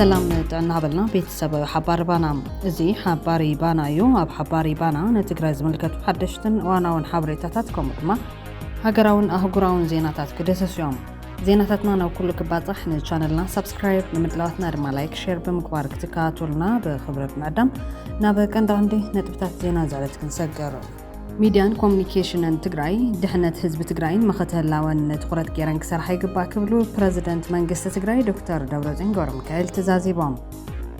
ሰላም ጥዕና በልና ቤተሰብ ሓባሪ ባና እዚ ሓባሪ ባና እዩ ኣብ ሓባሪ ባና ንትግራይ ዝምልከቱ ሓደሽትን እዋናውን ሓበሬታታት ከምኡ ድማ ሃገራውን ኣህጉራውን ዜናታት ክደሰሱ እዮም ዜናታትና ናብ ኩሉ ክባፃሕ ንቻነልና ሳብስክራይብ ንምድላዋትና ድማ ላይክ ሼር ብምግባር ክትከታተሉና ብክብረት ምዕዳም ናብ ቀንዲ ቀንዲ ነጥብታት ዜና ዝዕለት ክንሰገር ሚድያን ኮሚኒኬሽንን ትግራይ ድሕነት ህዝቢ ትግራይን መኸተ ህላወን ትኹረት ገይረን ክሰርሓ ይግባእ ክብሉ ፕረዚደንት መንግስቲ ትግራይ ዶክተር ደብረፅዮን ገብረሚካኤል ተዛዚቦም።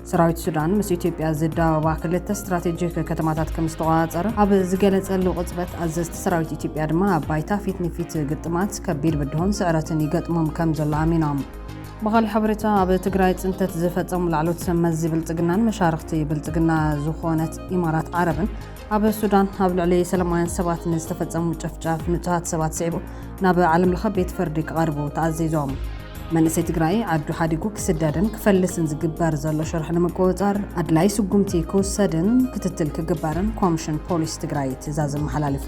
ሰራዊት ሱዳን ምስ ኢትዮጵያ ዝዳወባ ክልተ ስትራቴጂክ ከተማታት ከም ዝተቆፃፀረ ኣብ ዝገለፀሉ ቅፅበት ኣዘዝቲ ሰራዊት ኢትዮጵያ ድማ ኣብ ባይታ ፊት ንፊት ግጥማት ከቢድ ብድሆን ስዕረትን ይገጥሞም ከም ዘሎ ኣሚኖም። ብኻሊእ ሓበሬታ ኣብ ትግራይ ፅንተት ዝፈፀሙ ላዕለዎት ሰብ መዚ ብልፅግናን መሻርኽቲ ብልፅግና ዝኾነት ኢማራት ዓረብን ኣብ ሱዳን ኣብ ልዕሊ ሰለማውያን ሰባት ንዝተፈጸሙ ጨፍጫፍ ንጹሃት ሰባት ስዒቡ ናብ ዓለም ለኸ ቤት ፍርዲ ክቐርቡ ተኣዚዞም። መንእሰይ ትግራይ ዓዱ ሓዲጉ ክስደድን ክፈልስን ዝግበር ዘሎ ሽርሒ ንምቁፅፃር ኣድላይ ስጉምቲ ክውሰድን ክትትል ክግበርን ኮምሽን ፖሊስ ትግራይ ትእዛዝ ኣመሓላሊፉ።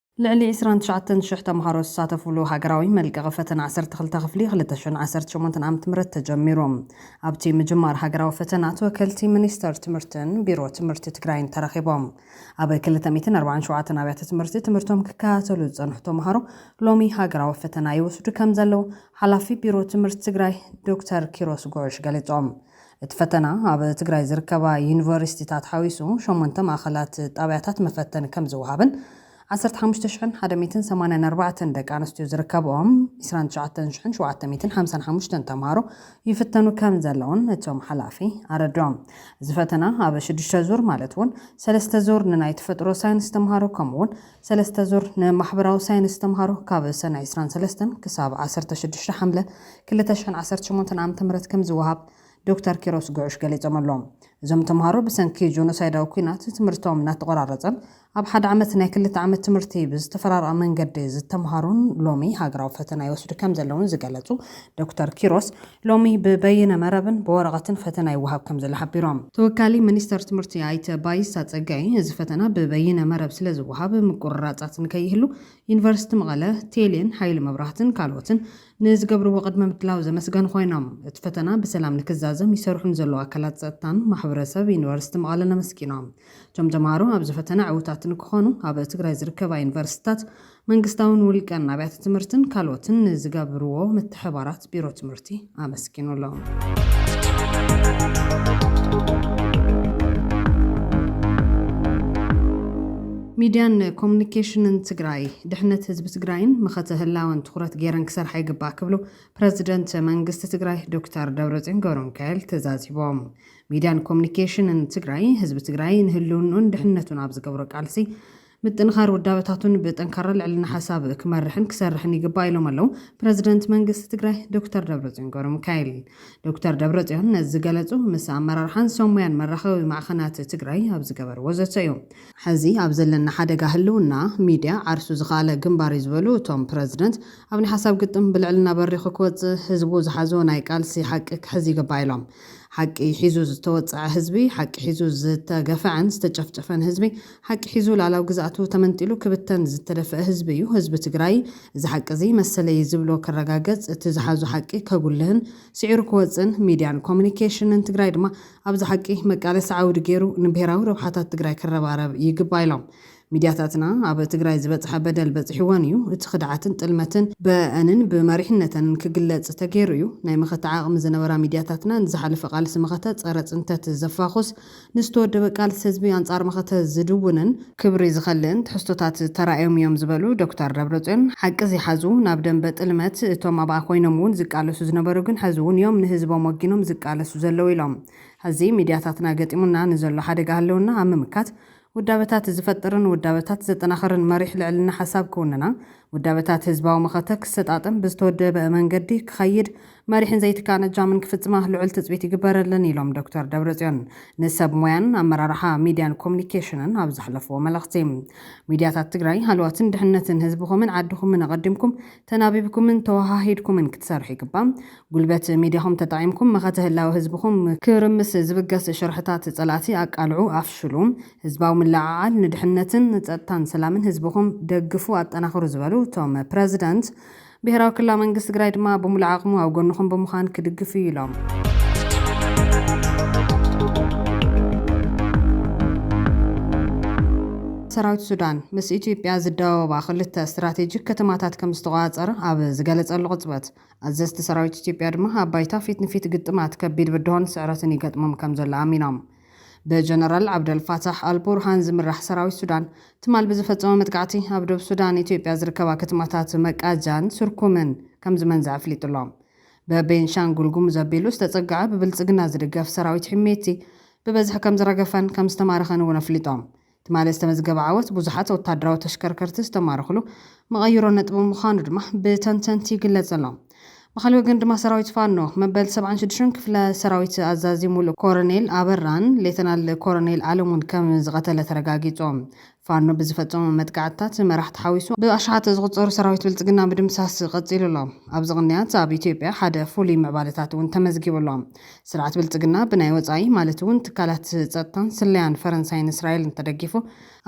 ልዕሊ ዕስራን ትሽዓተን ሽሕ ተምሃሮ ዝሳተፍሉ ሃገራዊ መልቀቒ ፈተነ ዓሰርተ ክልተ ክፍሊ ክልተ ሽሕን ዓሰርተ ሸሞንተን ዓመተ ምህረት ተጀሚሩ። ኣብቲ ምጅማር ሃገራዊ ፈተና ተወከልቲ ሚኒስተር ትምህርትን ቢሮ ትምህርቲ ትግራይን ተረኺቦም። ኣብ ክልተ ሚእትን ኣርባዓን ሸውዓተን ኣብያተ ትምህርቲ ትምህርቶም ክከታተሉ ዝፀንሑ ተምሃሮ ሎሚ ሃገራዊ ፈተና ይወስዱ ከምዘለዉ ሓላፊ ቢሮ ትምህርቲ ትግራይ ዶክተር ኪሮስ ጉዑሽ ገሊፆም። እቲ ፈተና ኣብ ትግራይ ዝርከባ ዩኒቨርሲቲታት ሓዊሱ ሸሞንተ ማእኸላት ጣብያታት መፈተኒ ከምዝወሃብን ዓሰርተ ሓሙሽተ ሽሕን ሓደ ሚእትን ሰማንያን ኣርባዕተን ደቂ ኣንስትዮ ዝርከበኦም ዕስራን ትሽዓተን ሽሕን ሸውዓተ ሚእትን ሓምሳን ሓሙሽተን ተምሃሮ ይፍተኑ ከምዘለውን እቶም ሓላፊ ኣረድኦም። እዚ ፈተና ኣብ ሽዱሽተ ዙር ማለት እውን ሰለስተ ዙር ንናይ ተፈጥሮ ሳይንስ ተምሃሮ ከምኡውን ሰለስተ ዙር ንማሕበራዊ ሳይንስ ተምሃሮ ካብ ሰነ ዕስራን ሰለስተን ክሳብ ዓሰርተ ሽዱሽተ ሓምለ ክልተ ሽሕን ዓሰርተ ሸሞንተን ዓመተ ምህረት ከምዝወሃብ ዶክተር ኪሮስ ጉዑሽ ገሊፆም ኣለው። እዞም ተምሃሮ ብሰንኪ ጆኖሳይዳዊ ኲናት ትምህርቶም እናተቖራረፀን ኣብ ሓደ ዓመት ናይ ክልተ ዓመት ትምህርቲ ብዝተፈራረቐ መንገዲ ዝተምሃሩን ሎሚ ሃገራዊ ፈተና ይወስዱ ከምዘለውን ዝገለፁ ዶክተር ኪሮስ ሎሚ ብበይነ መረብን ብወረቐትን ፈተና ይወሃብ ከምዘሎ ሓቢሮም። ተወካሊ ሚኒስተር ትምህርቲ ኣይተ ባይሳ ጸጋይ፣ እዚ ፈተና ብበይነ መረብ ስለዝወሃብ ምቁርራጻት ንከይህሉ ዩኒቨርሲቲ መቐለ፣ ቴሌን ሓይሊ መብራህትን ካልኦትን ንዝገብርዎ ቅድመ ምድላው ዘመስገኑ ኮይኖም፣ እቲ ፈተና ብሰላም ንክዛዘም ይሰርሑ ንዘለዉ ኣካላት ጸጥታን ማሕበረሰብ ዩኒቨርሲቲ መቐለን ኣመስጊኖም። እቶም ተምሃሮ ኣብዚ ፈተና ዕውታት ንክኾኑ ኣብ ትግራይ ዝርከባ ዩኒቨርሲቲታት መንግስታውን ውልቀን ኣብያተ ትምህርትን ካልኦትን ንዝገብርዎ ምትሕባራት ቢሮ ትምህርቲ ኣመስጊኑ ኣሎ። ሚድያን ኮሙኒኬሽንን ትግራይ ድሕነት ህዝቢ ትግራይን መኸተ ህላወን ትኹረት ገይረን ክሰርሓ ይግባእ ክብሉ ፕረዚደንት መንግስቲ ትግራይ ዶክተር ደብረፅዮን ገብረሚካኤል ተዛዚቦም። ሚድያን ኮሙኒኬሽንን ትግራይ ህዝቢ ትግራይ ንህልውንኡን ድሕነቱን ኣብ ዝገብሮ ቃልሲ ምጥንኻር ውዳበታቱን ብጠንካራ ልዕልና ሓሳብ ክመርሕን ክሰርሕን ይግባእ ኢሎም ኣለው ፕረዚደንት መንግስቲ ትግራይ ዶክተር ደብረፅዮን ገብረሚካኤል። ዶክተር ደብረፅዮን ነዚ ዝገለፁ ምስ ኣመራርሓን ሰብ ሙያን መራኸቢ ማዕኸናት ትግራይ ኣብ ዝገበርዎ ዘተ እዩ። ሕዚ ኣብ ዘለና ሓደጋ ህልውና ሚድያ ዓርሱ ዝኸኣለ ግንባር እዩ ዝበሉ እቶም ፕረዚደንት፣ ኣብ ናይ ሓሳብ ግጥም ብልዕልና በሪኹ ክወፅእ ህዝቡ ዝሓዞ ናይ ቃልሲ ሓቂ ክሕዝ ይግባእ ኢሎም። ሓቂ ሒዙ ዝተወፀዐ ህዝቢ፣ ሓቂ ሒዙ ዝተገፈዐን ዝተጨፍጨፈን ህዝቢ፣ ሓቂ ሒዙ ልኣላዊ ግዝኣቱ ተመንጢሉ ክብተን ዝተደፈእ ህዝቢ እዩ ህዝቢ ትግራይ። እዚ ሓቂ እዚ መሰለይ ዝብሎ ክረጋገፅ፣ እቲ ዝሓዞ ሓቂ ከጉልህን ስዒሩ ክወፅእን፣ ሚድያን ኮሙኒኬሽንን ትግራይ ድማ ኣብዚ ሓቂ መቃለሲ ዓውዲ ገይሩ ንብሄራዊ ረብሓታት ትግራይ ክረባረብ ይግባእ ኢሎም። ሚድያታትና ኣብ ትግራይ ዝበፅሐ በደል በፂሕወን እዩ። እቲ ክድዓትን ጥልመትን በእንን ብመሪሕነተንን ክግለፅ ተገይሩ እዩ። ናይ መኸተ ዓቕሚ ዝነበራ ሚድያታትና ንዝሓለፈ ቃልሲ መኸተ ፀረ ፅንተት ዘፋኹስ ንዝተወደበ ቃልሲ ህዝቢ ኣንፃር መኸተ ዝድውንን ክብሪ ዝኸልእን ትሕዝቶታት ተራእዮም እዮም ዝበሉ ዶክተር ደብረፅዮን፣ ሓቂ ዝይሓዙ ናብ ደምበ ጥልመት እቶም ኣብኣ ኮይኖም እውን ዝቃለሱ ዝነበሩ ግን ሐዚ እውን እዮም ንህዝቦም ወጊኖም ዝቃለሱ ዘለዉ ኢሎም። ሐዚ ሚድያታትና ገጢሙና ንዘሎ ሓደጋ ህልውና ኣብ ምምካት ውዳበታት ዝፈጥርን ውዳበታት ዘጠናኽርን መሪሕ ልዕልና ሓሳብ ክውንና፣ ውዳበታት ህዝባዊ መኸተ ክሰጣጥም ብዝተወደበ መንገዲ ክኸይድ፣ መሪሕን ዘይትካእን እጃምን ክፍፅማ ልዑል ትፅቢት ይግበረለን ኢሎም ዶክተር ደብረፅዮን ንሰብ ሞያን ኣመራርሓ ሚዲያን ኮሙኒኬሽንን ኣብ ዘሕለፍዎ መልእኽቲ። ሚዲያታት ትግራይ ሃለዋትን ድሕነትን ህዝብኹምን ዓድኹምን ኣቐዲምኩም ተናቢብኩምን ተወሃሂድኩምን ክትሰርሑ ይግባእ። ጉልበት ሚድያኹም ተጠቒምኩም መኸተ ህላወ ህዝብኹም ክርምስ ዝብገስ ሽርሕታት ፀላእቲ ኣቃልዑ፣ ኣፍሽሉ። ህዝባዊ ምልዕዓል ንድሕነትን ፀጥታን ሰላምን ህዝብኹም ደግፉ ኣጠናኽሩ ዝበሉ እቶም ፕረዚደንት፣ ብሄራዊ ክልላዊ መንግስቲ ትግራይ ድማ ብሙሉእ ዓቕሙ ኣብ ጎንኹም ብምዃን ክድግፍ እዩ ኢሎም። ሰራዊት ሱዳን ምስ ኢትዮጵያ ዝዳወባ ክልተ ስትራቴጂክ ከተማታት ከምዝተቖፃፀረ ኣብ ዝገለፀሉ ቅፅበት፣ ኣዘዝቲ ሰራዊት ኢትዮጵያ ድማ ኣብ ባይታ ፊት ንፊት ግጥማት ከቢድ ብድሆን ስዕረትን ይገጥሞም ከምዘሎ ኣሚኖም። ብጀነራል ዓብደልፋታሕ ኣልቡርሃን ዝምራሕ ሰራዊት ሱዳን ትማል ብዝፈፀሞ መጥቃዕቲ ኣብ ዶብ ሱዳን ኢትዮጵያ ዝርከባ ከተማታት መቃጃን ስርኩምን ከምዝመንዘዐ ኣፍሊጡ'ሎ። በቤንሻንጉል ጉሙዝ ኣቢሉ ዝተፀገዐ ብብልፅግና ዝድገፍ ሰራዊት ሒሜቲ ብበዝሒ ከምዝረገፈን ከምዝተማረኸን እውን ኣፍሊጦም። ትማሊ ዝተመዝገበ ዓወት ብዙሓት ወታደራዊ ተሽከርከርቲ ዝተማረኽሉ መቐይሮ ነጥቢ ምዃኑ ድማ ብተንተንቲ ይግለፅ ኣሎ። ብኻሊእ ወገን ድማ ሰራዊት ፋኖ መበል ሰብዓን ሽዱሽተን ክፍለ ሰራዊት ኣዛዚ ሙሉእ ኮረኔል ኣበራን ሌተናል ኮረኔል ኣለሙን ከም ዝቐተለ ተረጋጊፁ። ፋኖ ብዝፈፀሞም መጥቃዕትታት መራሕቲ ሓዊሱ ብኣሽሓት ዝቑፀሩ ሰራዊት ብልፅግና ምድምሳስ ቐፂሉ ኣሎ። ኣብዚ ቕንያት ኣብ ኢትዮጵያ ሓደ ፍሉይ ምዕባለታት እውን ተመዝጊቡ ኣሎ። ስርዓት ብልፅግና ብናይ ወፃኢ ማለት እውን ትካላት ፀጥታን ስለያን ፈረንሳይን እስራኤልን ተደጊፉ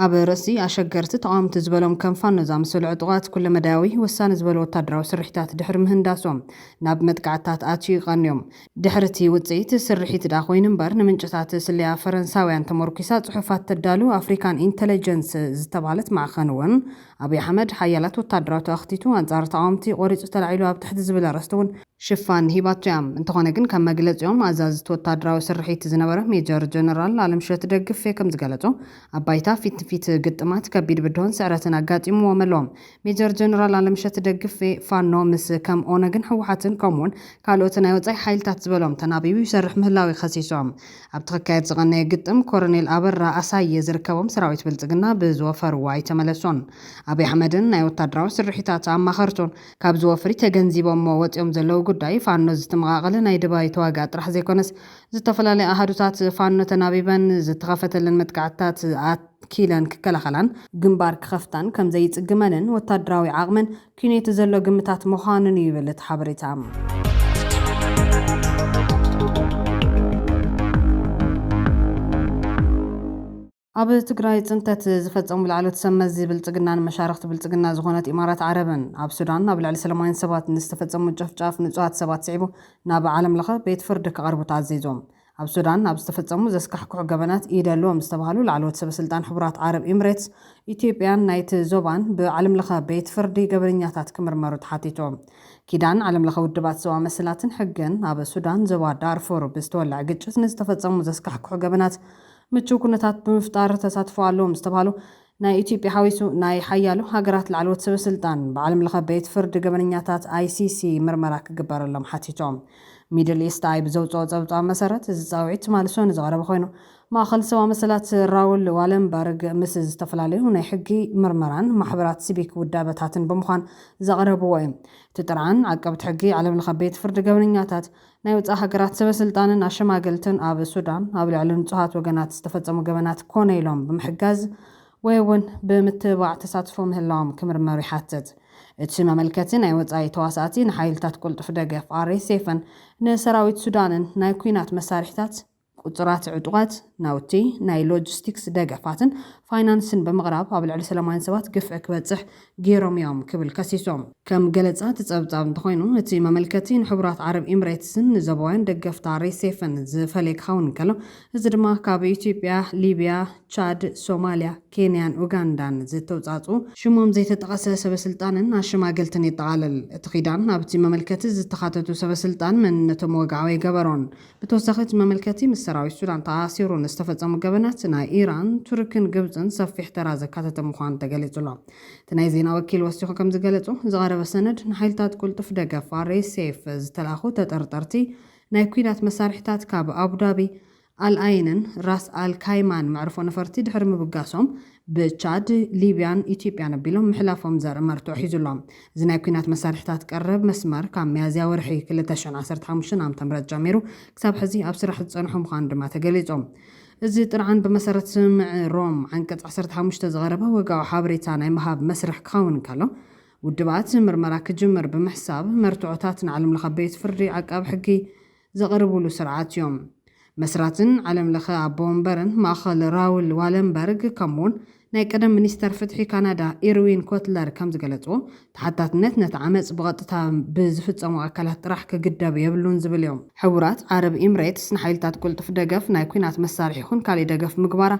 ኣብ ርእሲ ኣሸገርቲ ተቓወምቲ ዝበሎም ከም ፋኖ ዝኣመሰሉ ዕጡቓት ኩለመዳያዊ ወሳኒ ዝበሉ ወታደራዊ ስርሒታት ድሕሪ ምህንዳሶም ናብ መጥቃዕትታት ኣትዩ ይቐንዮም። ድሕሪ እቲ ውፅኢት ስርሒት ድኣ ኮይኑ እምበር ንምንጭታት ስለያ ፈረንሳውያን ተሞርኲሳ ፅሑፋት ተዳሉ ኣፍሪካን ኢንተለጀንስ ዝተብሃለት ማዕኸን እውን ኣብይ ኣሕመድ ሓያላት ወታደራቱ ኣኽቲቱ ኣንፃር ተቓወምቲ ቆሪፁ ተላዒሉ ኣብ ትሕቲ ዝብል ኣርእስቲ እውን ሽፋን ሂባቶ እያ። እንተኾነ ግን ከም መግለጺኦም ኣዛዝቲ ወታደራዊ ስርሒት ዝነበረ ሜጀር ጀነራል ኣለምሸት ደግፌ ከም ዝገለጾ ኣብ ባይታ ፊት ንፊት ግጥማት ከቢድ ብድሆን ስዕረትን ኣጋጢምዎም ኣሎ። ሜጀር ጀነራል ኣለምሸት ደግፌ ፋኖ ምስ ከም ኦነግን ህወሓትን ከምኡ'ውን ካልኦት ናይ ወጻኢ ሓይልታት ዝበሎም ተናቢቡ ይሰርሕ ምህላዉ'ዩ ከሲሶም። ኣብቲ ክካየድ ዝቐነየ ግጥም ኮረኔል ኣበራ ኣሳየ ዝርከቦም ሰራዊት ብልጽግና ብዝወፈርዎ ኣይተመለሶን። ኣብይ ኣሕመድን ናይ ወታደራዊ ስርሒታት ኣማኸርቱን ካብዚ ወፍሪ ተገንዚቦሞ ወጺኦም ዘለዉ ጉዳይ ፋኖ ዝትመቓቐለ ናይ ደባይ ተዋግኣ ጥራሕ ዘይኮነስ ዝተፈላለያ ኣሃዱታት ፋኖ ተናቢበን ዝተኸፈተለን መጥቃዕትታት ኣኪለን ክከላኸላን ግንባር ክኸፍታን ከምዘይጽግመንን ወታደራዊ ዓቕመን ኲኔት ዘሎ ግምታት ምዃኑን'ዩ ይብል እቲ ሓበሬታ። ኣብ ትግራይ ፅንተት ዝፈፀሙ ላዕለዎት ሰብ መዚ ብልፅግናን መሻርኽቲ ብልፅግና ዝኾነት ኢማራት ዓረብን፣ ኣብ ሱዳን ኣብ ልዕሊ ሰለማውያን ሰባት ንዝተፈፀሙ ምጭፍጫፍ ንፁሃት ሰባት ስዒቡ ናብ ዓለም ለኸ ቤት ፍርዲ ክቐርቡ ተኣዚዞም። ኣብ ሱዳን ኣብ ዝተፈፀሙ ዘስካሕክሑ ገበናት ኢድ ኣለዎም ዝተብሃሉ ላዕለዎት ሰበ ስልጣን ሕቡራት ዓረብ ኢምሬትስ፣ ኢትዮጵያን ናይቲ ዞባን ብዓለም ለኸ ቤት ፍርዲ ገበነኛታት ክምርመሩ ተሓቲቶም። ኪዳን ዓለም ለኸ ውድባት ሰብኣዊ መሰላትን ሕግን ኣብ ሱዳን ዞባ ዳርፉር ብዝተወለዐ ግጭት ንዝተፈፀሙ ዘስካሕክሑ ገበናት ምቹው ኩነታት ብምፍጣር ተሳትፎ ኣለዎም ዝተብሃሉ ናይ ኢትዮጵያ ሓዊሱ ናይ ሓያሎ ሃገራት ላዕለዎት ሰበስልጣን ብዓለም ለኸ ቤት ፍርዲ ገበነኛታት ICC ምርመራ ክግበረሎም ሓቲቶም። ሚድል ኢስት ኣይ ብዘውጽኦ ጸብጻብ መሰረት እዚ ጻውዒት ትማሊ ሰኑይ ዝቐረበ ኮይኑ ማእኸል ሰብኣዊ መሰላት ራውል ዋለንበርግ ምስ ዝተፈላለዩ ናይ ሕጊ፣ ምርመራን ማሕበራት ሲቪክ ውዳበታትን ብምዃን ዘቕረብዎ እዩ። እቲ ጥርዓን ዓቀብቲ ሕጊ ዓለም ለኸ ቤት ፍርዲ ገበነኛታት፣ ናይ ወጻኢ ሃገራት ሰበስልጣንን ኣሸማገልትን ኣብ ሱዳን ኣብ ልዕሊ ንጹሃት ወገናት ዝተፈጸሙ ገበናት ኮነ ኢሎም ብምሕጋዝ ወይ'ውን ብምትብባዕ ተሳትፎ ምህላዎም ክምርመሩ ይሓትት። እቲ መመልከቲ ናይ ወጻኢ ተዋሳእቲ ንሓይልታት ቅልጡፍ ደገፍ፣ RSFን ንሰራዊት ሱዳንን ናይ ኲናት መሳርሒታት፣ ቁፁራት ዕጡቓት ናውቲ፣ ናይ ሎጂስቲክስ ደገፋትን ፋይናንስን ብምቕራብ ኣብ ልዕሊ ሰላማውያን ሰባት ግፍዒ ክበፅሕ ገይሮም እዮም ክብል ከሲሱ። ከም ገለፃ እቲ ፀብፃብ እንተኾይኑ እቲ መመልከቲ ንሕቡራት ዓረብ ኢምሬትስን ንዞባውያን ደገፍታ ሬሴፍን ዝፈለየ ክኸውን እንከሎ እዚ ድማ ካብ ኢትዮጵያ፣ ሊብያ፣ ቻድ፣ ሶማሊያ፣ ኬንያን ኡጋንዳን ዝተውፃእፅኡ ሽሞም ዘይተጠቐሰ ሰበስልጣንን ኣሸማገልትን የጠቓልል። እቲ ኪዳን ኣብቲ መመልከቲ ዝተኻተቱ ሰበስልጣን መንነቶም ወግዓዊ ኣይገበሮን። ብተወሳኺ እቲ መመልከቲ ምስ ሰራዊት ሱዳን ተኣሳሲሩ ንዝተፈፀሙ ገበናት ናይ ኢራን፣ ቱርክን ግብፅን ሰፊሕ ተራ ዘካተተ ምዃኑ ተገሊፁ ኣሎ። እቲ ናይ ዜና ወኪል ወሲኹ ከምዝገለፆ፣ ዝቐረበ ሰነድ ንሓይልታት ቅልጡፍ ደገፍ፣ RSF፣ ዝተላእኩ ተጠርጠርቲ ናይ ኲናት መሳርሒታት ካብ ኣቡዳቢ፣ ኣልኣይንን ራስ ኣል ካይማን መዕርፎ ነፈርቲ ድሕሪ ምብጋሶም፣ ብቻድ፣ ሊብያን ኢትዮጵያን ኣቢሎም ምሕላፎም ዘርኢ መርትዖ ሒዙ ኣሎ። እዚ ናይ ኲናት መሳርሒታት ቀረብ መስመር፣ ካብ ሚያዝያ ወርሒ ክልተ ሽሕን ዓሰርተ ሓሙሽተን ዓመተ ምህረት ጀሚሩ ክሳብ ሕዚ ኣብ ስራሕ ዝጸንሖ ምዃኑ ድማ ተገሊጹ። እዚ ጥርዓን ብመሰረት ስምምዕ ሮም ዓንቀጽ ዓሰርተ ሓሙሽተ ዝቐረበ ወግዓዊ ሓበሬታ ናይ ምሃብ መስርሕ ክኸውን እንከሎ፣ ውድባት ምርመራ ክጅምር ብምሕሳብ መርትዖታት ንዓለምለኸ ቤት ፍርዲ ዓቃቢ ሕጊ ዘቕርቡሉ ስርዓት እዮም። መስራትን ዓለም ለኸ ኣቦ ወንበርን ማእኸል ራውል ዋለንበርግ ከምኡውን ናይ ቀደም ሚኒስተር ፍትሒ ካናዳ ኢርዊን ኮትለር ከም ዝገለፅዎ ተሓታትነት ነቲ ዓመፅ ብቐጥታ ብዝፍፀሙ ኣካላት ጥራሕ ክግደብ የብሉን ዝብል እዩ። ሕቡራት ዓረብ ኢምሬትስ ንሓይልታት ቅልጡፍ ደገፍ ናይ ኲናት መሳርሒ ይኹን ካሊእ ደገፍ ምግባራ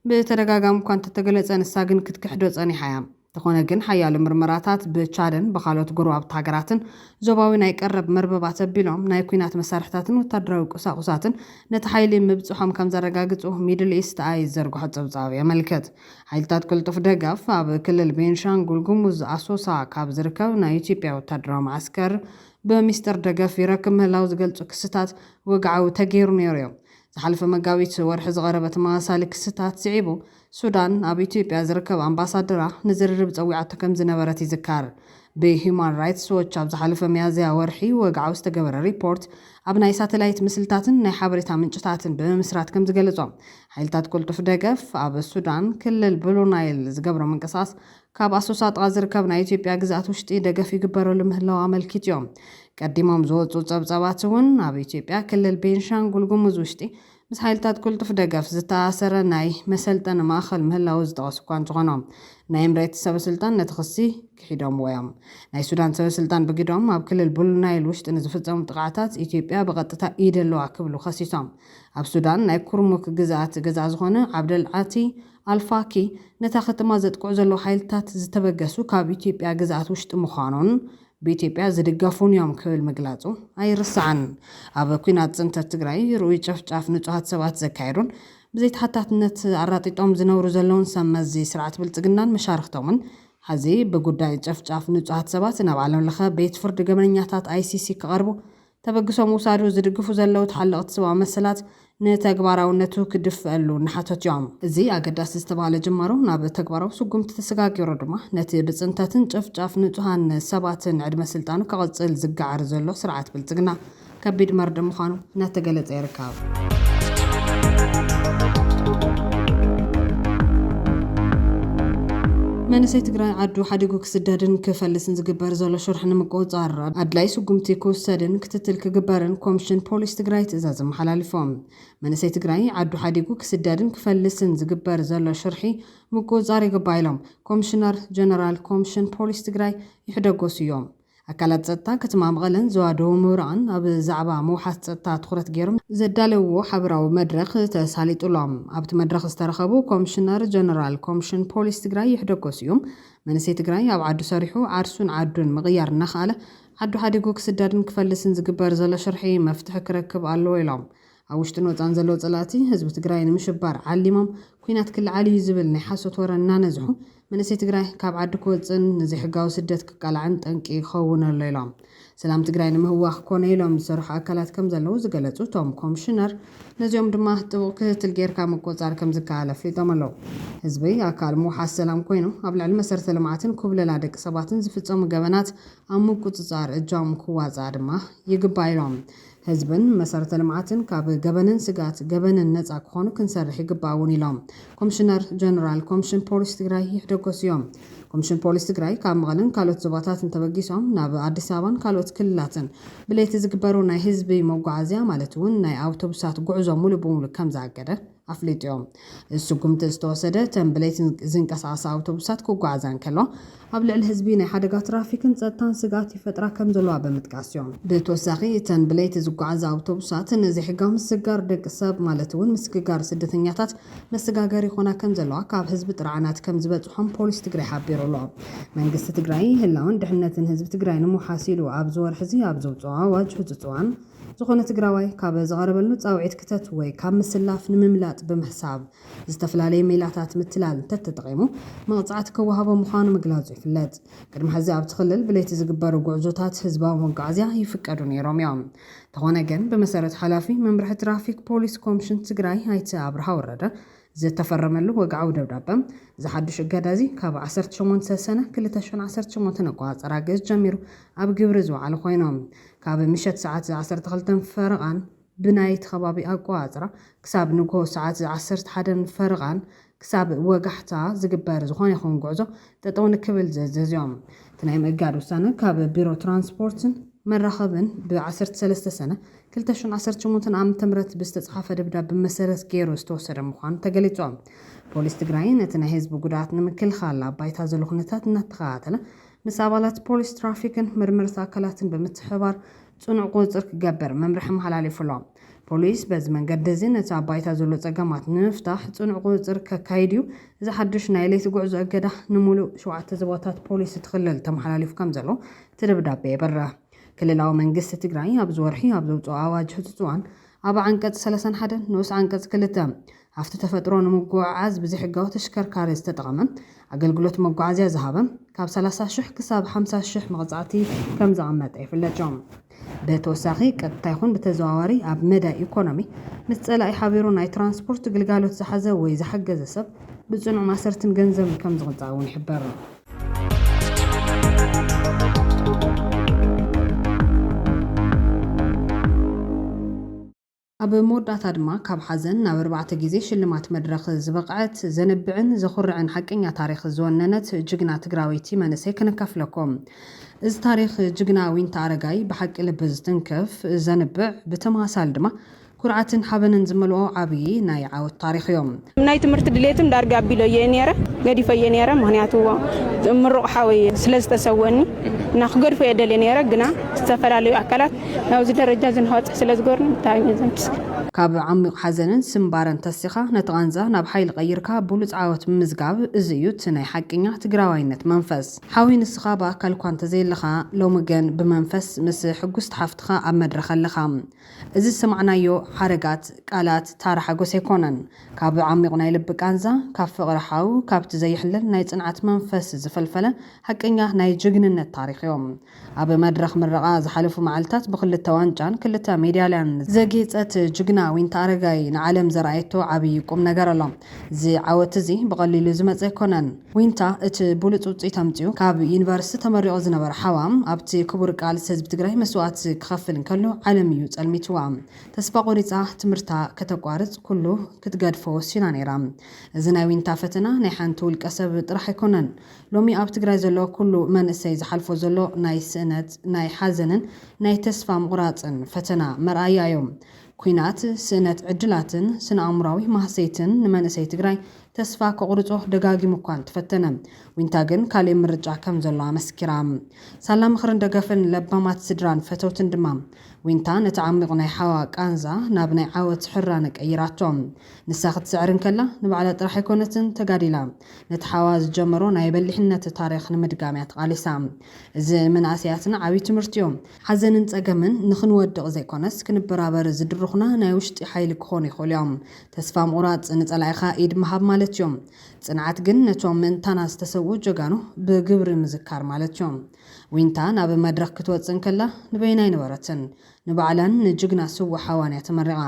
ብተደጋጋሚ እኳ እንተተገለፀ ንሳ ግን ክትክሕዶ ፀኒሓ እያ። እንተኾነ ግን ሓያሎ ምርመራታት ብቻድን ብኻልኦት ጎረባብቲ ሃገራትን ዞባዊ ናይ ቀረብ መርበባት ኣቢሎም ናይ ኲናት መሳርሕታትን ወታደራዊ ቁሳቑሳትን ነቲ ሓይሊ ምብጽሖም ከምዘረጋግጹ ሚድል ኢስት ኣይ ዝዘርግሖ ጸብጻብ የመልክት። ሓይልታት ቅልጡፍ ደገፍ ኣብ ክልል ቤንሻንጉል ጉሙዝ ኣሶሳ ካብ ዝርከብ ናይ ኢትዮጵያ ወታደራዊ መዓስከር ብሚስጥር ደገፍ ይረክብ ምህላው ዝገልጹ ክስታት ወግዓዊ ተገይሩ ነይሩዮ። ዝሓለፈ መጋቢት ወርሒ ዝቐረበ ተመሳሳሊ ክስታት ስዒቡ፣ ሱዳን ኣብ ኢትዮጵያ ዝርከብ ኣምባሳደራ ንዝርርብ ጸዊዓቶ ከም ዝነበረት ይዝከር። ብሂዩማን ራይትስ ዎች ኣብ ዝሓለፈ ሚያዝያ ወርሒ ወግዓዊ ዝተገበረ ሪፖርት፣ ኣብ ናይ ሳተላይት ምስልታትን ናይ ሓበሬታ ምንጭታትን ብምምስራት ከም ዝገለጾ፣ ሓይልታት ቅልጡፍ ደገፍ ኣብ ሱዳን፣ ክልል ብሉ ናይል ዝገብሮ ምንቅስቓስ ካብ ኣሶሳ ጥቓ ዝርከብ ናይ ኢትዮጵያ ግዝኣት ውሽጢ ደገፍ ይግበረሉ ምህላዉ ኣመልኪቲዮም። ቀዲሞም ዝወጹ ጸብጻባትውን ኣብ ኢትዮጵያ ክልል ቤንሻንጉል ጉሙዝ ውሽጢ ምስ ሓይልታት ቅልጡፍ ደገፍ ዝተኣኣሰረ ናይ መሰልጠኒ ማእኸል ምህላዉ ዝጠቐሱ እኳ እንተኾኑ ናይ ኢምሬትስ ሰበስልጣን ነቲ ክሲ ክሒዶምዎዮም። ናይ ሱዳን ሰበስልጣን ብግደኦም ኣብ ክልል ቡሉናይል ውሽጢ ንዝፍጸሙ ጥቕዓታት ኢትዮጵያ ብቐጥታ ኢድ ኣለዋ ክብሉ ከሲሶም። ኣብ ሱዳን ናይ ኩርሙክ ግዝኣት ገዛኢ ዝኾነ ዓብደል ዓቲ ኣልፋኪ ነታ ከተማ ዘጥቅዑ ዘለዉ ሓይልታት ዝተበገሱ ካብ ኢትዮጵያ ግዝኣት ውሽጢ ምዃኑን ብኢትዮጵያ ዝድገፉን እዮም ክብል ምግላፁ ኣይርሳዕን። ኣብ ኲናት ፅንተት ትግራይ ርኡይ ጨፍጫፍ ንፁሃት ሰባት ዘካየዱን ብዘይተሓታትነት ኣራጢጦም ዝነብሩ ዘለዉን ሰብ መዚ ስርዓት ብልፅግናን መሻርኽቶምን ሐዚ ብጉዳይ ጨፍጫፍ ንፁሃት ሰባት ናብ ዓለም ለኸ ቤት ፍርድ ገበነኛታት ICC ክቐርቡ ተበግሶ ምውሳዱ ዝድግፉ ዘለዉ ተሓለቕቲ ሰብኣዊ መሰላት ንተግባራውነቱ ክድፈኣሉ እናሓተቱ'ዮም። እዚ ኣገዳሲ ዝተባህለ ጅማሮ ናብ ተግባራዊ ስጉምቲ ተሰጋጊሩ ድማ ነቲ ብጽንተትን ጨፍጫፍ ንጹሃን ሰባትን ዕድመ ስልጣኑ ከቕጽል ዝገዓር ዘሎ ስርዓት ብልጽግና ከቢድ መርድእ ምዃኑ እናተገለጸ ይርከብ። መንእሰይ ትግራይ ዓዱ ሓዲጉ ክስደድን ክፈልስን ዝግበር ዘሎ ሽርሒ ንምቁፅፃር ኣድላይ ስጉምቲ ክውሰድን ክትትል ክግበርን ኮምሽን ፖሊስ ትግራይ ትእዛዝ ኣመሓላሊፎ። መንእሰይ ትግራይ ዓዱ ሓዲጉ ክስደድን ክፈልስን ዝግበር ዘሎ ሽርሒ ምቁፅፃር ይግባእ ኢሎም ኮምሽነር ጀነራል ኮምሽን ፖሊስ ትግራይ ይሕደጎሱ እዮም። ኣካላት ፀጥታ ከተማ መቐለን ዞባ ደቡብ ምብራቕን ኣብ ዛዕባ ምውሓስ ፀጥታ ትኹረት ገይሮም ዘዳለውዎ ሓበራዊ መድረኽ ተሳሊጡ ኣሎ። ኣብቲ መድረኽ ዝተረኸቡ ኮምሽነር ጀነራል ኮምሽን ፖሊስ ትግራይ ይሕደጎ ስዩም፣ መንእሰይ ትግራይ ኣብ ዓዱ ሰሪሑ ዓርሱን ዓዱን ምቕያር እናኸኣለ ዓዱ ሓዲጉ ክስደድን ክፈልስን ዝግበር ዘሎ ሽርሒ መፍትሒ ክረክብ ኣለዎ ኢሎም። ኣብ ውሽጥን ወፃእን ዘለዉ ፀላእቲ ህዝቢ ትግራይ ንምሽባር ዓሊሞም ኲናት ክለዓል እዩ ዝብል ናይ ሓሶት ወረ እናነዝሑ መንእሰይ ትግራይ ካብ ዓዱ ክወፅእን ንዘይሕጋዊ ስደት ክቃላዕን ጠንቂ ይኸውን ኣሎ ኢሎም። ሰላም ትግራይ ንምህዋኽ ኮነ ኢሎም ዝሰርሑ ኣካላት ከምዘለዉ ዝገለፁ እቶም ኮምሽነር ነዚኦም ድማ ጥቡቕ ክትትል ገይርካ ምቁፅፃር ከምዝከኣል ኣፍሊጦም ኣለዉ። ህዝቢ ኣካል ምውሓስ ሰላም ኮይኑ ኣብ ልዕሊ መሰረተ ልምዓትን ኩብለላ ደቂ ሰባትን ዝፍፀሙ ገበናት ኣብ ምቁፅፃር እጃሙ ክዋፃእ ድማ ይግባእ ኢሎም። ህዝብን መሰረተ ልምዓትን ካብ ገበንን ስግኣት ገበንን ነፃ ክኾኑ ክንሰርሕ ይግባእ እውን ኢሎም ኮምሽነር ጀነራል ኮምሽን ፖሊስ ትግራይ ይሕደጎስ እዮም። ኮምሽን ፖሊስ ትግራይ ካብ መቐለን ካልኦት ዞባታትን ተበጊሶም ናብ ኣዲስ ኣበባን ካልኦት ክልላትን ብለይቲ ዝግበሩ ናይ ህዝቢ መጓዓዝያ ማለት እውን ናይ ኣውቶቡሳት ጉዕዞ ሙሉእ ብሙሉእ ከምዝኣገደ ኣፍሊጡ'ዮም። እዚ ስጉምቲ ዝተወሰደ እተን ብለይቲ ዝንቀሳቐሳ ኣውቶቡሳት ክጓዓዛ እንከለዋ ኣብ ልዕሊ ህዝቢ ናይ ሓደጋ ትራፊክን ጸጥታን ስግኣት ይፈጥራ ከምዘለዋ ብምጥቃስ'ዩ። ብተወሳኺ እተን ብለይቲ ዝጓዓዛ ኣውቶቡሳት ንዘይሕጋዊ ምስግጋር ደቂ ሰብ ማለት'ውን ምስግጋር ስደተኛታት መሰጋገሪ ይኾና ከምዘለዋ ካብ ህዝቢ ጥርዓናት ከምዝበጽሖም ፖሊስ ትግራይ ሓቢሩ'ሎ። መንግስቲ ትግራይ ህላወን ድሕንነትን ህዝቢ ትግራይ ንምውሓስ ኢሉ ኣብዚ ወርሒ'ዚ ኣብ ዘውጽኦ ኣዋጅ ህጹጽ እዋን ዝኾነ ትግራዋይ ካብ ዝቐረበሉ ፃውዒት ክተት ወይ ካብ ምስላፍ ንምምላጥ ብምሕሳብ ዝተፍላለየ ሜላታት ምትላል እንተተጠቒሙ መቕፃዕቲ ክወሃቦ ምዃኑ ምግላፁ ይፍለጥ። ቅድሚ ሕዚ ኣብቲ ክልል ብለይቲ ዝግበሩ ጉዕዞታት ህዝባዊ መጓዓዝያ ይፍቀዱ ነይሮም እዮም። እንተኾነ ግን ብመሰረት ሓላፊ መምርሒ ትራፊክ ፖሊስ ኮምሽን ትግራይ ኣይተ ኣብርሃ ወረደ፣ ዝተፈረመሉ ወግዓዊ ደብዳበ፣ እዚ ሓዱሽ እገዳ እዚ ካብ ዓሰርተ ሸሞንተ ሰነ ክልተ ሽሕን ዓሰርተ ሸሞንተን ኣቆጻጽራ ግእዝ ጀሚሩ ኣብ ግብሪ ዝወዓለ ኮይኑ፣ ካብ ምሸት ሰዓት ዓሰርተ ክልተን ፈረቓን ብናይ እቲ ከባቢ ኣቆጻጽራ ክሳብ ንግሆ ሰዓት ዓሰርተ ሓደን ፈረቓን ክሳብ ወጋሕታ ዝግበር ዝኾነ ይኹን ጉዕዞ ጠጠው ንክብል ዝእዝዝ እዩ። እቲ ናይ ምእጋድ ውሳነ ካብ ቢሮ ትራንስፖርትን መራኸብን ብ ዓሰርተ ሰለስተ ሰነ ክልተ ሽሕን ዓሰርተ ሸሞንተን ዓመተ ምህረት ብዝተፅሓፈ ደብዳበ መሰረት ገይሩ ዝተወሰደ ምዃኑ ተገሊፁ። ፖሊስ ትግራይ ነቲ ናይ ህዝቢ ጉድኣት ንምክልኻል ኣብ ባይታ ዘሎ ኩነታት እናተኸታተለ ምስ ኣባላት ፖሊስ ትራፊክን መርመርቲ ኣካላትን ብምትሕብባር ፅኑዕ ቁፅፅር ክገብር መምርሒ ኣመሓላሊፉ ኣሎ። ፖሊስ በዚ መንገዲ እዚ ነቲ ኣብ ባይታ ዘሎ ፀገማት ንምፍታሕ ፅኑዕ ቁፅፅር ከካይድ እዩ። እዚ ሓዱሽ ናይ ለይቲ ጉዕዞ እገዳ ንሙሉእ ሸውዓተ ዞባታት ፖሊስ እቲ ክልል ተመሓላሊፉ ከምዘሎ እቲ ደብዳበ የብርህ። ክልላዊ መንግስቲ ትግራይ ኣብዚ ወርሒ ኣብ ዘውፅኦ ኣዋጅ ህፁፅ እዋን ኣብ ዓንቀፅ ሰላሳን ሓደን ንኡስ ዓንቀፅ ክልተ ሃፍቲ ተፈጥሮ ንምጉዕዓዝ ብዘይሕጋዊ ተሽከርካሪ ዝተጠቐመ ኣገልግሎት መጓዓዝያ ዝሃበ ካብ ሰላሳ ሽሕ ክሳብ ሓምሳ ሽሕ መቕፃዕቲ ከምዘቐመጠ ይፍለጥ እዩ። ብተወሳኺ ቀጥታ ይኹን ብተዘዋዋሪ ኣብ መዳይ ኢኮኖሚ ምስ ፀላኢ ሓቢሩ ናይ ትራንስፖርት ግልጋሎት ዝሓዘ ወይ ዝሓገዘ ሰብ ብፅኑዕ ማሰርትን ገንዘብን ከምዝቕፃዕ እውን ይሕበር። ኣብ መወዳእታ ድማ ካብ ሓዘን ናብ ኣርባዕተ ግዜ ሽልማት መድረኽ ዝበቕዐት፣ ዘንብዕን ዘኹርዕን ሓቀኛ ታሪኽ ዝወነነት ጅግና ትግራወይቲ መንእሰይ ከነካፍለኩም። እዚ ታሪኽ ጅግና ዊንታ ኣረጋይ ብሓቂ ልቢ ዝትንክፍ፣ ዘንብዕ፣ ብተመሳሳሊ ድማ ኩርዓትን ሓበንን ዝመልኦ ዓብዪ ናይ ዓወት ታሪኽ እዮ። ናይ ትምህርቲ ድሌትን ዳርጋ ኣቢለዮ'የ ኔረ፣ ገዲፈዮ ኔረ፣ ምኽንያቱ ምሩቕ ሓወይ ስለ ዝተሰወኒ እና ክገድፎ'የ ደልየ ኔረ፣ ግና ዝተፈላለዩ ኣካላት ናብዚ ደረጃ እዚ ንክበጽሕ ስለ ዝገበሩኒ ብታእሚ ዘምስግን። ካብ ዓሚቕ ሓዘንን ስምባረን ተሲኻ ነቲ ቃንዛ ናብ ሓይሊ ቀይርካ ብሉጽ ዓወት ምምዝጋብ እዚ እዩ እቲ ናይ ሓቂኛ ትግራዋይነት መንፈስ። ሓወይ ንስኻ ብኣካል እኳ እንተዘየለኻ ሎሚ ግን ብመንፈስ ምስ ሕጉስቲ ሓፍትኻ ኣብ መድረኽ ኣለኻ። እዚ ዝሰማዕናዮ ሓረጋት ቃላት ታራ ሓጎስ ኣይኮነን። ካብ ዓሚቝ ናይ ልቢ ቃንዛ፣ ካብ ፍቕሪ ሓው፣ ካብቲ ዘይሕለል ናይ ጽንዓት መንፈስ ዝፈልፈለ ሓቀኛ ናይ ጅግንነት ታሪኽ እዩ። ኣብ መድረኽ ምረቓ ዝሓለፉ መዓልታት ብክልተ ዋንጫን ክልተ ሜድያልያን ዘጌጸት ጅግና ዊንታ ኣረጋይ ንዓለም ዘርኣየቶ ዓብዪ ቁምነገር ኣሎ። እዚ ዓወት'ዚ ብቐሊሉ ዝመጸ ኣይኮነን። ዊንታ እቲ ብሉፅ ውፅኢት ኣምፂኡ ካብ ዩኒቨርስቲ ተመሪቑ ዝነበረ ሓዋ ኣብቲ ክቡር ቃልሲ ህዝቢ ትግራይ መስዋእቲ ክኸፍል እንከሎ ዓለም እዩ ፀልሚትዋ። ተስፋ ቆሪፃ ትምህርታ ከተቋርፅ ኩሉ ክትገድፎ ወሲና ነይራ። እዚ ናይ ዊንታ ፈተና ናይ ሓንቲ ውልቀ ሰብ ጥራሕ ኣይኮነን። ሎሚ ኣብ ትግራይ ዘሎ ኩሉ መንእሰይ ዝሓልፎ ዘሎ ናይ ስእነት፣ ናይ ሓዘንን ናይ ተስፋ ምቑራፅን ፈተና መርኣያ እዩ። ኲናት፣ ስእነት ዕድላትን ስነ ኣእምሮኣዊ ማህሰይትን ንመንእሰይ ትግራይ ተስፋ ከቑርጾ ደጋጊሙ እኳ እንተፈተነ፣ ዊንታ ግን ካልእ ምርጫ ከም ዘሎ ኣመስኪራ። ሳላ ምኽርን ደገፍን ለባማት ስድራን ፈተውትን ድማ፣ ዊንታ ነቲ ዓሚቝ ናይ ሓዋ ቃንዛ ናብ ናይ ዓወት ሕራነ ቀይራቶ። ንሳ ክትስዕር እንከላ፣ ንባዕላ ጥራሕ ኣይኮነትን ተጋዲላ፣ ነቲ ሓዋ ዝጀመሮ ናይ በሊሕነት ታሪኽ ንምድጋም እያ ተቓሊሳ። እዚ ንመናእሰያትና ዓብዪ ትምህርቲዮ። ሓዘንን ጸገምን ንኽንወድቕ ዘይኮነስ ክንበራበር ዝድርኹና ናይ ውሽጢ ሓይሊ ክኾኑ ይኽእሉዮም። ተስፋ ምቑራጽ ንጸላኢኻ ኢድ ምሃብ ማለትዮ። ጽንዓት ግን ነቶም ምእንታና ዝተሰውኡ ጀጋኑ ብግብሪ ምዝካር ማለትዮ። ዊንታ ናብ መድረኽ ክትወጽእ እንከላ ንበይና ኣይነበረትን። ንባዕላን ንጅግና ስዉእ ሓዋንያ ተመሪቓ።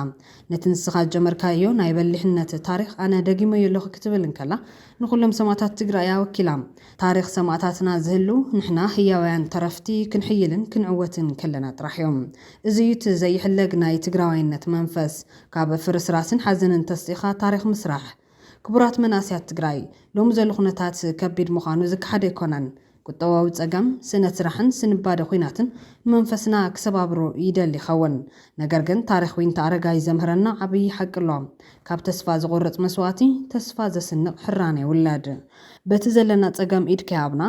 ነቲ ንስኻ ዝጀመርካዮ ናይ በሊሕነት ታሪኽ ኣነ ደጊመዮ ኣለኹ ክትብል እንከላ ንኹሎም ሰማእታት ትግራይ'ያ ወኪላ። ታሪኽ ሰማእታትና ዝህሉ ንሕና ህያውያን ተረፍቲ ክንሕይልን ክንዕወትን ከለና ጥራሕዮ። እዚ'ዩ እቲ ዘይሕለግ ናይ ትግራዋይነት መንፈስ። ካብ ፍርስራስን ሓዘንን ተስኢኻ ታሪኽ ምስራሕ። ክቡራት መናእሰያት ትግራይ፣ ሎሚ ዘሎ ኩነታት ከቢድ ምዃኑ ዝከሓድ ኣይኮነን። ቁጠባዊ ፀገም፣ ስእነት ስራሕን ስንባደ ኹናትን ንመንፈስና ክሰባብሮ ይደሊ ይኸውን። ነገር ግን ታሪኽ ዊንታ ኣረጋይ ዘምህረና ዓብዪ ሓቂ ኣሎ። ካብ ተስፋ ዘቑርፅ መስዋእቲ፣ ተስፋ ዘስንቕ ሕራነ ይውለድ። በቲ ዘለና ፀገም ኢድካ ይሃብና።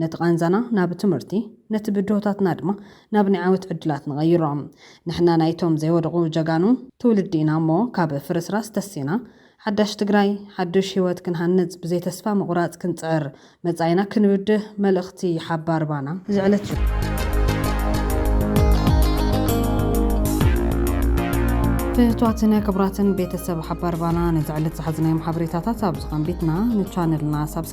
ነቲ ቃንዛና ናብ ትምህርቲ፣ ነቲ ብድሆታትና ድማ ናብ ናይ ዓወት ዕድላት ንቐይሮ። ንሕና ናይቶም ዘይወደቑ ጀጋኑ ትውልዲ ኢና እሞ ካብ ፍርስራስ ተሲእና ሓዳሽ ትግራይ፣ ሓዱሽ ህይወት ክንሃንፅ ብዘይ ተስፋ ምቑራፅ ክንፅዕር፣ መፃኢና ክንብድህ መልእኽቲ ሓባር ባና እዚ ዕለት እዩ። ፍትዋትን ክቡራትን ቤተሰብ ሓባር ባና ነዚ ዕለት ዝሓዝናዮም ሓበሬታታት ኣብዚ ከንቢትና ንቻነልና ሳብስክራይብ